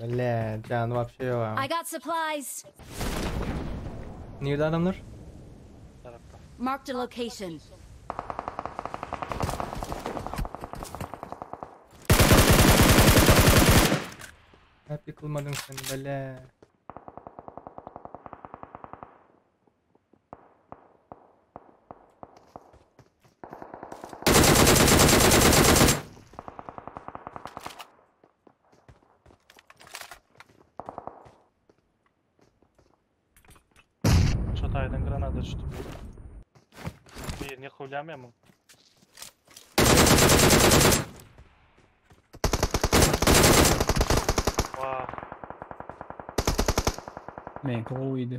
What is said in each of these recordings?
Bile jany wapşe ýok aň. I got supplies. Nirde adamlar? Tarapda. Marked a location. Nädip ýykylmadyň sen bile. Çataydan granada düşdü bir. Birini yakalayamıyorum ben. Vah. Meňki gowydy.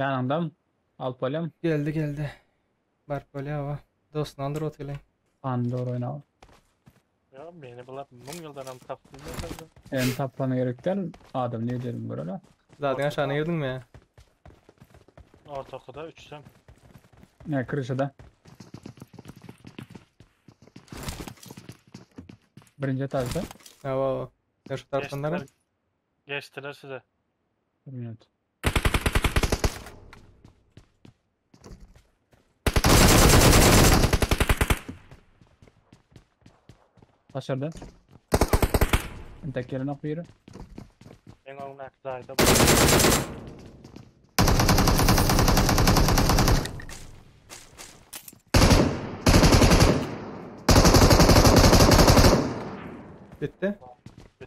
Ýanyňdam alyp bolýam. Geldi geldi. Baryp bolýar oba. Dostuny aldyr otyrlaý. Pandora oýnaw. Ýa meni bular müň ýyldanam tapbilmezlerda. Meni tapmana gerek däl adam nirde ýörügini göreli. Zadyň aşagyna girdiňmi ýa. Ortakyda üçsem. Ýa kryşada. Birinji etajda. Hawa hawa. Ýa şu tarapdan dara. Geçdiler size. Bir minut. Başardı. Entek gelen ok biri. Meň öňümdäki jaýda bu. Bitti.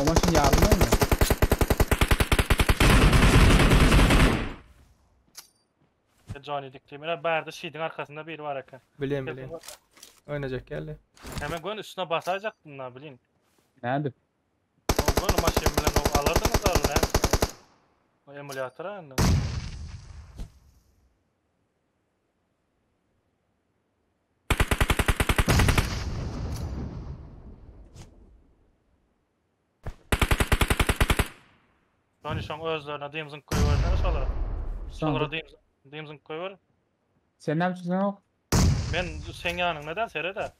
O maşyn ýarylmaýmy? Sen Johnny dik diýme. Ine bärde şidiň arkasynda biri bar eken. Bilýän, Kesin bilýän. görse. Oýnajak geldi. He men göni üstüne basajakdym da bilin. Nädip? O göni maşyn bilen o alardyňyz da ol näme? O emulýator indi. Hani şoň özlerine dymzyň köýberine şola. Şolara dymzyň dymzyň köýber. Sen näme üçin yok? Men sen ýanyňda da serede.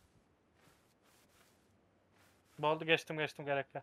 Boldy geçdim geçdim gerekli.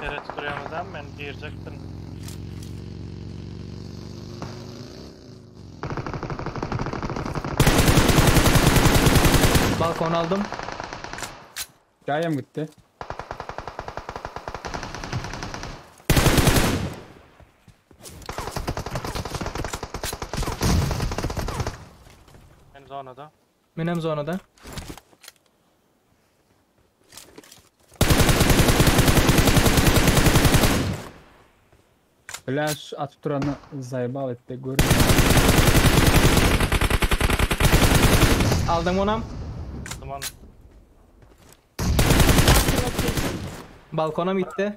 Seret kuryamyzam men girjekdim. Balkon aldım. Jaýam gitdi. Men zonada. Menem zonada. Flash atyp duranda zaýbal etdi görmedim. Aldyň onam. Tamam. Marked a location. Balkonam gitdi.